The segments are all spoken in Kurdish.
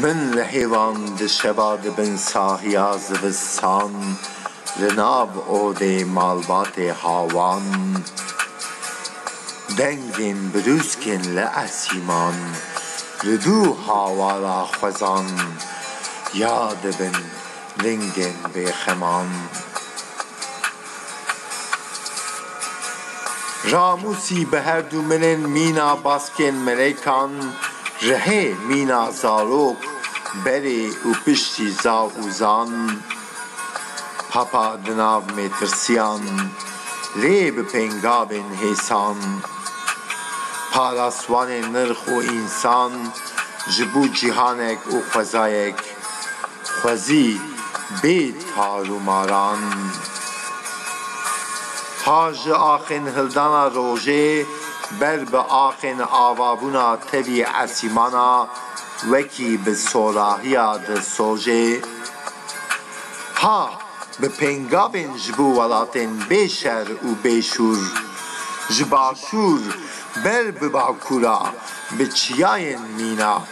Min li hêvan di şeva di bin sahiya zivistan li nav odê malbatê hawan dengên birûskên li esîman li dû hawara xwezan ya dibin lingên bêxeman. Ramûsî bi her du milên mîna baskên milekan ji hê mîna zarok berê û piştî zav û zan Papa di nav mêtirsiyan lê bi pêngavên hêsan Parasvanê nirx û însan ji bo cîhanek û xwezayek. xwezî bê tar û maran. Ta ji axên hildana rojê ber bi axên avabûna tevî esîmana wekî bi sorahiya di sojê. Ha bi pêngavên ji bo welatên bê şer û bê şûr. Ji başûr ber bi bakûra bi çiyayên mîna.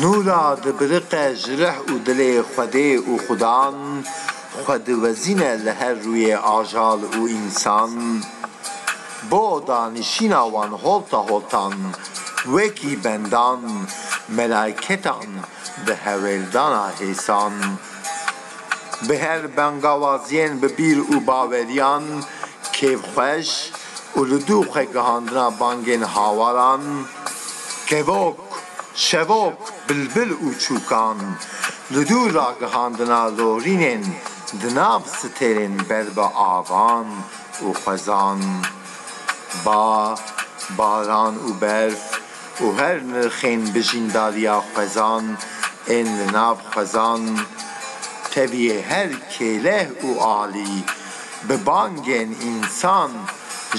Nûra dibiriqe ji rih û dilê Xwedê û Xudan, xwe diwezîne li her rûyê ajal û însan. Bo danişîna wan holta holtan, wekî bendan, melaîketan di hewêldana hêsan. Bi her bangawaziyên bi bîr û baweriyan kêfxweş û li dû xwe gihandina bangên hawaran, Kevok, şevok, bilbil û çûkan li dû ragihandina lorînên di nav sitêrên ber bi avan û xwezan, ba, baran û berf û her nirxên bijîndariya xwezan ên li nav xwezan tevî her kêleh û alî bi bangên însan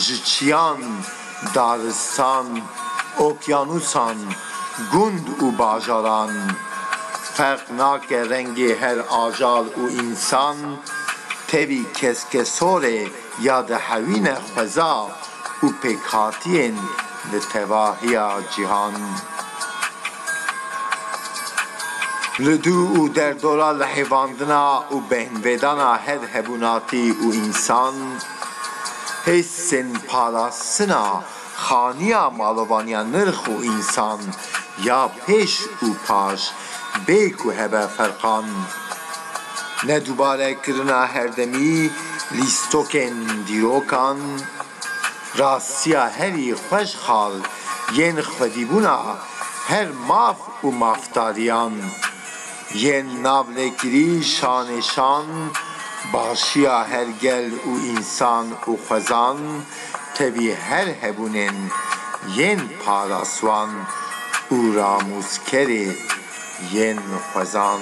ji çiyan Daristan, okyanûsan, gund û bajaran, ferq nake rengê her ajal û însan, tevî keskesorê ya dihewîne xweza û pêkhatiyên li tevahiya cîhan. Li dû û derdora lihêvandina û behnvêdana her hebûnatî û însan, Hêsên parastina xaniya malovaniya nirx û însan ya pêş û paş bê ku hebe ferqan. Ne dubare kirina herdemî lîstokên dîrokan, rastiya herî xweşxal yên xwedîbûna her maf û mafdariyan. Yên navlêkirî şanê şan baxşiya her gel û însan û xwezan tevî her hebûnên yên paraswan û ramûskerê yên xwezan.